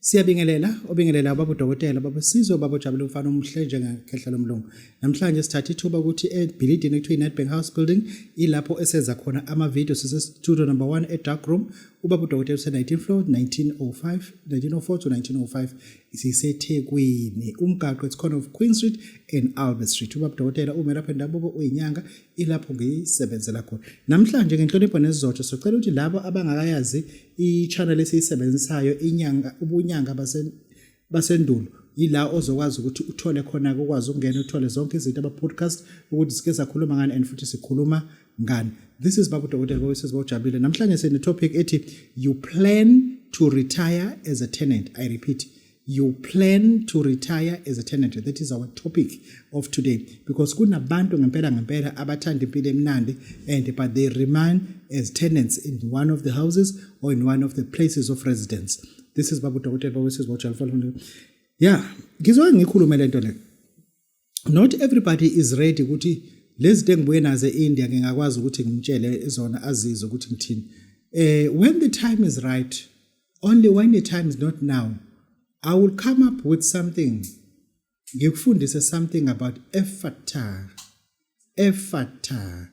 Siyabingelela, obingelela baba udokotela, baba Sizwe, baba Jabule umfana omuhle njengekhehla lomlungu. Namhlanje sithatha ithuba ukuthi ebhilidini ekuthiwa iNetbank House Building ilapho esenza khona ama video sise studio number 1 e dark room. Ubaba udokotela use 19 floor 1905 1904 to 1905 siseThekwini. Umgaqo it's corner of Queen Street and Albert Street. Ubaba udokotela umelaphi endabuko uyinyanga ilapho ngiyisebenzela khona namhlanje ngenhlonipho nesizotho socela ukuthi labo abangakayazi i-channel esiyisebenzisayo inyanga ubunyanga basendulo yila ozokwazi ukuthi uthole khona ukwazi ukungena uthole zonke izinto ama-podcast ukuthi sike sakhuluma ngani and futhi sikhuluma ngani this is babu dokotela bowesizwe bawujabulile namhlanje sine-topic ethi you plan to retire as a tenant i repeat you plan to retire as a tenant that is our topic of today because kunabantu ngempela ngempela abathanda impilo emnandi and but they remain as tenants in one of the houses or in one of the places of residence this is babu dokotela bawesizwa ujalfalfalfal yeah ngizoke ngikhulume le nto le not everybody is ready ukuthi lezi zinto engibuye nazo e-India ngingakwazi ukuthi ngimtshele zona azizwe ukuthi ngithini eh when the time is right only when the time is not now i will come up with something ngikufundise something about efata efata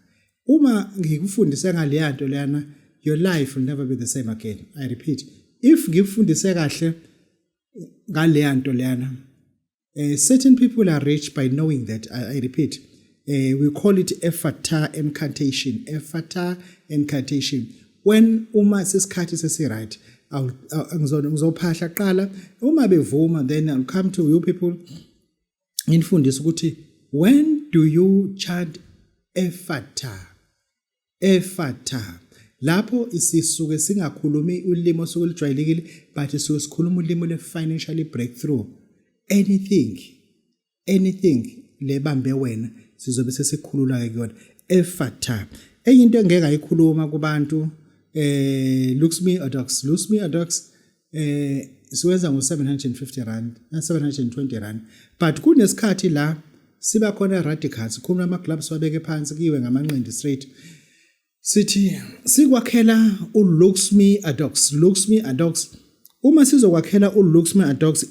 uma ngikufundise ngaleya nto leyana your life will never be the same again i repeat if ngikufundise kahle ngaleya nto leyana uh, certain people are rich by knowing that i, I repeat uh, we call it efata incantation efata incantation when uma sesikhathi sesiright ngizophahla kuqala uma bevuma then i'll come to you people nginifundisa ukuthi when do you chant efata Efatha. Lapho sisuke singakhulumi ulimi osuke lujwayelekile but sisuke sikhuluma ulimi le-financially breakthrough. Anything, anything lebambe wena sizobe sesikhulula-ke kuyona. Efatha. Enye into engeke ayikhuluma kubantu eh Luxmi Adox, Luxmi Adox eh siwenza ngo-750 rand na-720 rand but kunesikhathi la siba khona radical sikhuluma ama-gloves wabeke phansi kuyiwe ngamanqindi straight sithi sikwakhela u-luxme adox luxme adox uma sizokwakhela u-luxme adox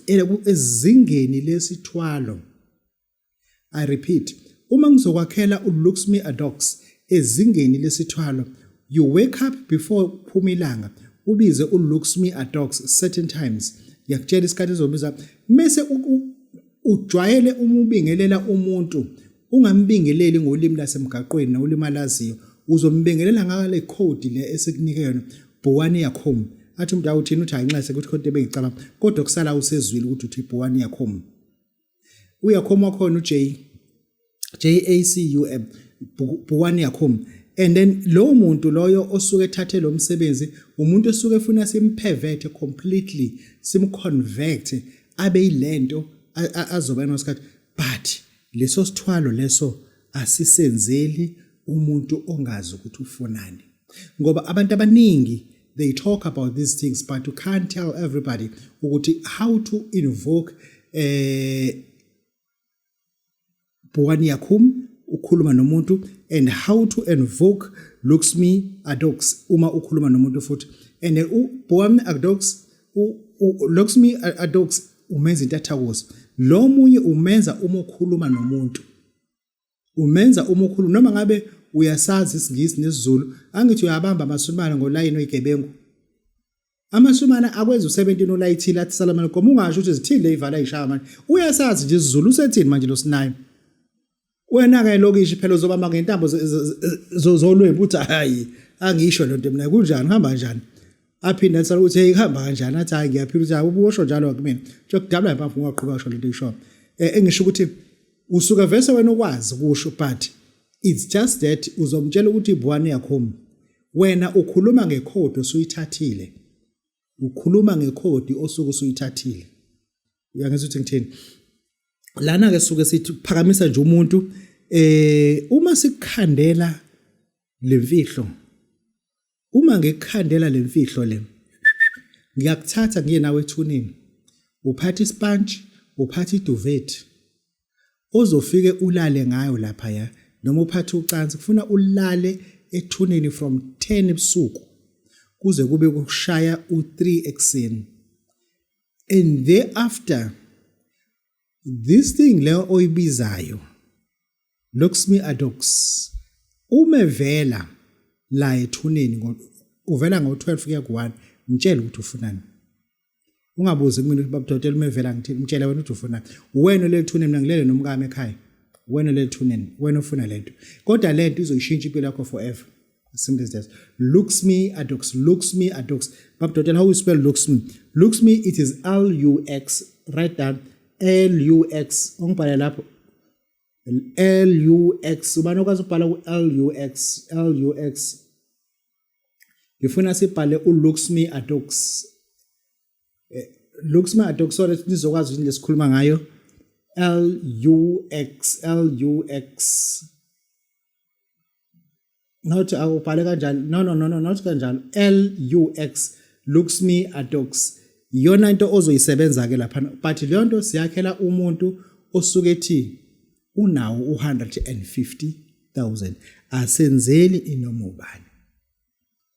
ezingeni lesithwalo I repeat, uma ngizokwakhela uLuxme Adox ezingeni lesithwalo, you wake up before kuphuma ilanga ubize uLuxme Adox certain times. Ngiyakutshela isikhathi ezobiza mese ujwayele uma ubingelela umuntu ungambingeleli ngolimi lasemgaqweni nolimi alaziyo uzombingelela ngale code le esikunike yona bhuwani yakhom athi umuntu awuthini uthi ayinxese ukuthi khonto ebengicabanga kodwa kusala usezwile ukuthi uthi bhuwani yakhom uyakhoma khona uJ JACUM bhukwani yakhoma and then lowo muntu loyo osuke ethathe lo msebenzi umuntu osuke efuna simphevethe completely simconvert abe yilento azoba nosikhathi but leso sithwalo leso asisenzeli umuntu ongazi ukuthi ufunani ngoba abantu abaningi they talk about these things but you can't tell everybody ukuthi how to invoke eh Bhuwani Yakum ukhuluma nomuntu and how to invoke Luxmi Adox uma ukhuluma nomuntu futhi and uBhuwani Adox Luxmi Adox umenza intathakuzo lo munye umenza uma ukhuluma nomuntu umenza umukhulu noma ngabe uyasazi isingisi nesizulu angithi uyabamba amasumana ngolayini oyigebengu amasumana akwenza u17 olayithile athi salamane goma ungasho ukuthi zithini leyivala ishaya manje uyasazi nje isizulu usethini manje lo sinayo wena ke lokishi phela uzobamba ngentambo zolwembu uthi hayi angisho lento mina kunjani hamba njani aphinde athi ukuthi hey kuhamba kanjani athi hayi ngiyaphila ukuthi ubusho njalo kumina nje kudabula impamvu ungaqhubeka kusho lento isho eh, engisho ukuthi usuka vese wena ukwazi kusho but it's just that uzomtshela ukuthi ibwani yakho wena ukhuluma ngekhodi osuyithathile ukhuluma ngekhodi osuke usuyithathile uyangizwa ukuthi ngithini lana ke suke sithi phakamisa nje umuntu eh uma sikukhandela lemfihlo uma ngikukhandela le mfihlo le ngiyakuthatha ngiye nawe ethuneni uphatha isipantshi uphatha iduvethi ozofike ulale ngayo lapha ya noma uphathe ucansi kufuna ulale ethuneni from 10 ebusuku kuze kube kushaya u3 ekseni and thereafter this thing le oyibizayo loksmi adox uma vela la ethuneni uvela ngo12 kuya ku1 ngitshela ukuthi ufunani ungabuzi kumina ukuthi babudotela uma evela ngithini ngitshela wena ukuthi ufunani wena lelithuneni mina ngilele nomkami ekhaya wena lelithuneni wena ufuna lento kodwa lento izoyishintsha impilo yakho forever Some these days. Looks me adox. Looks me adox. Bab Dotel, how you spell looks me? Looks me, it is L U X. Write down L U X. Ongibhale lapho. L U X. Ubani okwazi ukubhala ku L U X. L U X. Ngifuna sibhale u looks me adox. Eh, looks me adox so that nizokwazi yini lesikhuluma ngayo. L U X. L U X. not awubhale kanjalo no no no no not kanjalo L U X looks me adox iyona into ozoyisebenza ke lapha but leyo nto siyakhela umuntu osuke ethi unawo u150000 asenzeli inoma ubani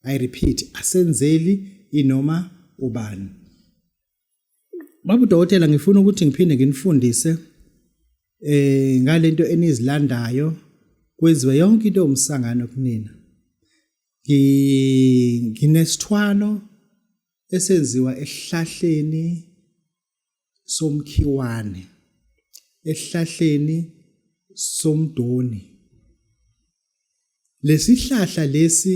i repeat asenzeli inoma ubani Baba udokotela ngifuna ukuthi ngiphinde nginifundise eh ngalento enizilandayo kwenziwe yonke into umsangano kunina. Ngi nginesithwalo esenziwa esihlahleni somkhiwane esihlahleni somdoni. Lesihlahla lesi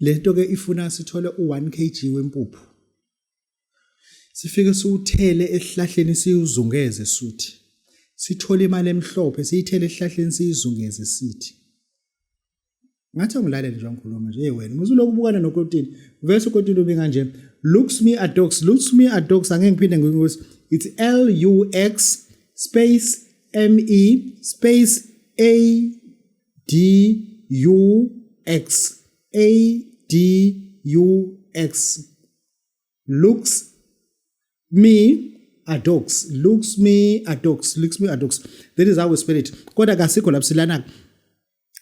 lento ke ifuna sithole u1 kg wempuphu sifike siwuthele esihlahleni siwuzungeze suthi sithole imali emhlophe siyithele esihlahleni siyizungeze sithi ngathi angilalele nje ngikhuluma nje hey wena muze lokhu ubukana nokotini vese ukotini ube kanje looks me a dogs looks me a dogs angeke ngiphinde ngikuthi it's l u x space m e space a DUX ADUX looks me adox looks me adox looks me adox that is how we spell it kodwa kasikho lapho silana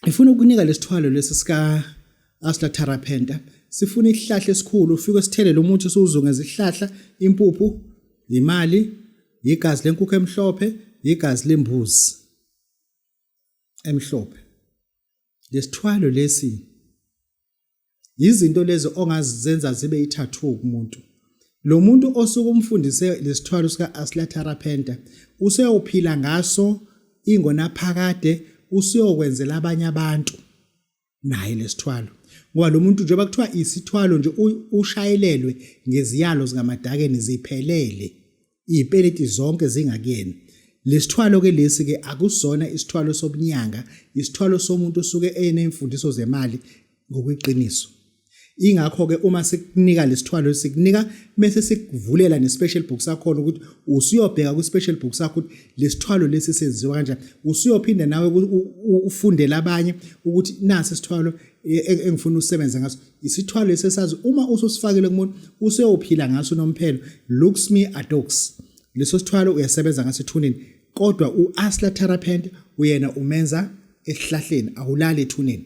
ifuna ukunika lesithwalo lesi sika asla therapenta sifuna isihlahla esikhulu ufike sithelele umuthi siwuzunge izihlahla impuphu imali yigazi lenkukhu emhlophe yigazi lembuzi emhlophe lesithwalo lesi yizinto lezi ongazenza zibe ithathu kumuntu lo muntu osuke umfundise lesithwalo sika Aslatara Penta useyophila ngaso ingona phakade usiyokwenzela abanye abantu naye lesithwalo ngoba lo muntu njengoba kuthiwa isithwalo nje ushayelelwe ngeziyalo zikamadakeni ziphelele iy'peleti zonke zingakuyena lesithwalo ke lesi ke akusona isithwalo sobunyanga isithwalo somuntu osuke enemfundiso zemali ngokweqiniso ingakho ke uma sikunika lesithwalo sikunika bese sikuvulela ne special book sakho ukuthi usuyobheka ku special book sakho ukuthi lesithwalo lesi senziwa kanjani usuyophinda nawe ufundele abanye ukuthi nasi isithwalo e, e, engifuna usebenza ngaso isithwalo esesazi uma ususifakile kumuntu useyophila ngaso nomphelo looks me adox leso sithwalo uyasebenza ngaso ethuneni kodwa u asla therapent uyena umenza esihlahleni awulali ethuneni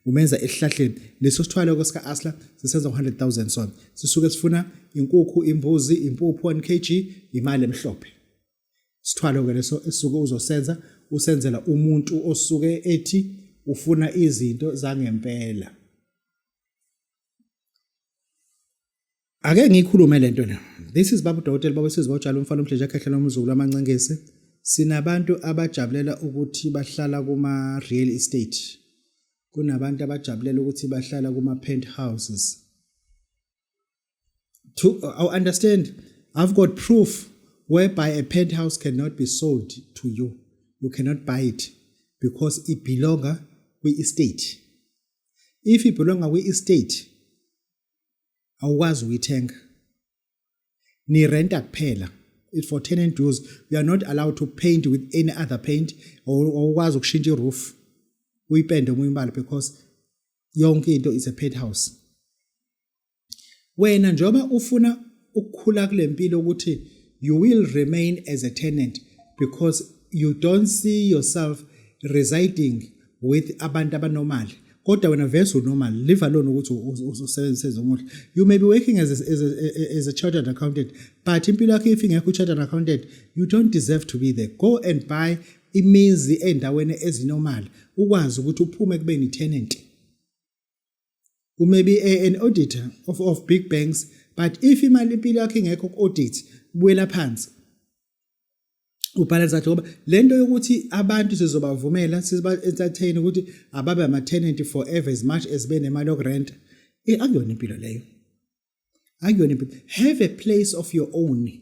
umenza esihlahleni leso sithwalo ke sika Asla sisenza 100000 so sisuke sifuna inkukhu imbuzi impuphu 1 kg imali emhlophe sithwalo ke leso esuke uzosenza usenzela umuntu osuke ethi ufuna izinto zangempela ake ngikhulume lento la this is babu dokotela baba sizwa utshalo umfana omhlanje akhehlela umzukulu amancengesi sinabantu abajabulela ukuthi bahlala kuma real estate kunabantu abajabulela ukuthi bahlala kuma penthouses to i understand i've got proof whereby a penthouse cannot be sold to you you cannot buy it because it belongs kwi estate if it belongs kwi estate awukwazi ukuyithenga ni renta kuphela it for tenant dues you are not allowed to paint with any other paint awukwazi ukushintsha iroof uyipende omunye umbala because yonke into is a penthouse wena njengoba ufuna ukukhula kule mpilo ukuthi you will remain as a tenant because you don't see yourself residing with abantu abanormal kodwa wena vese unormal live alone ukuthi usebenzise ezomuhle you may be working as a, as a, as a chartered accountant but impilo yakho if ingekho chartered accountant you don't deserve to be there go and buy imizi endaweni ezinormal ukwazi ukuthi uphume kubeni tenant You may be a, an auditor of, of big banks, but if imali impilo yakho ingekho ku-audit, buyela phansi. ubhalansa ngoba lento yokuthi abantu sizobavumela siziba entertain ukuthi ababe ama tenant forever as much as benemali yokurent eh, akuyona impilo leyo akuyona impilo have a place of your own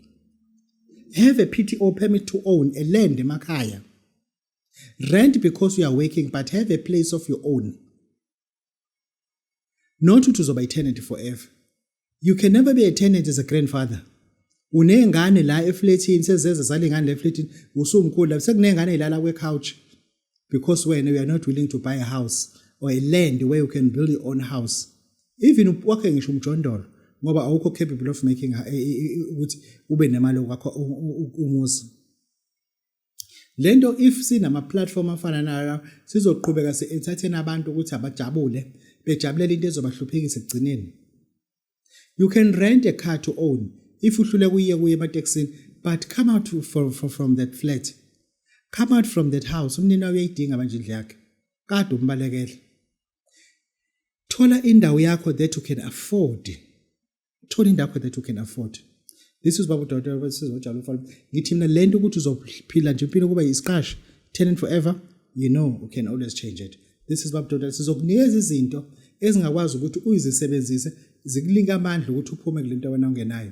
have a PTO permit to own a land emakhaya rent because you are working but have a place of your own not ukuthi uzoba i-tenant forever you can never be a tenant as a grandfather unengane la efletini sezeze zalengane la efletini usumkhulu la sekunengane ilala kwe-couch because wena you are not willing to buy a house or a land where you can build your own house even wakhe ngisho umjondolo ngoba awukho capable of making ukuthi ube nemali yokwakho umuzi Lento if sinama platform afana nayo sizoqhubeka si entertain abantu ukuthi abajabule bejabulela into ezobahluphekisa ekugcineni. You can rent a car to own if uhluleka uye kuye ematekisini but come out from, from, from that flat. Come out from that house umnini wayo uyayidinga manje indlu yakhe. Kade umbalekele. Thola indawo yakho that you can afford. thola indakho that you can afford this is babu dr sizojala umfana ngithi mina lento ukuthi uzophila nje impilo kuba yisiqashi tenant forever you know you can always change it this is babu dr sizokunikeza izinto ezingakwazi ukuthi uyizisebenzise zikulinga amandla ukuthi uphume kule nto wena ongenayo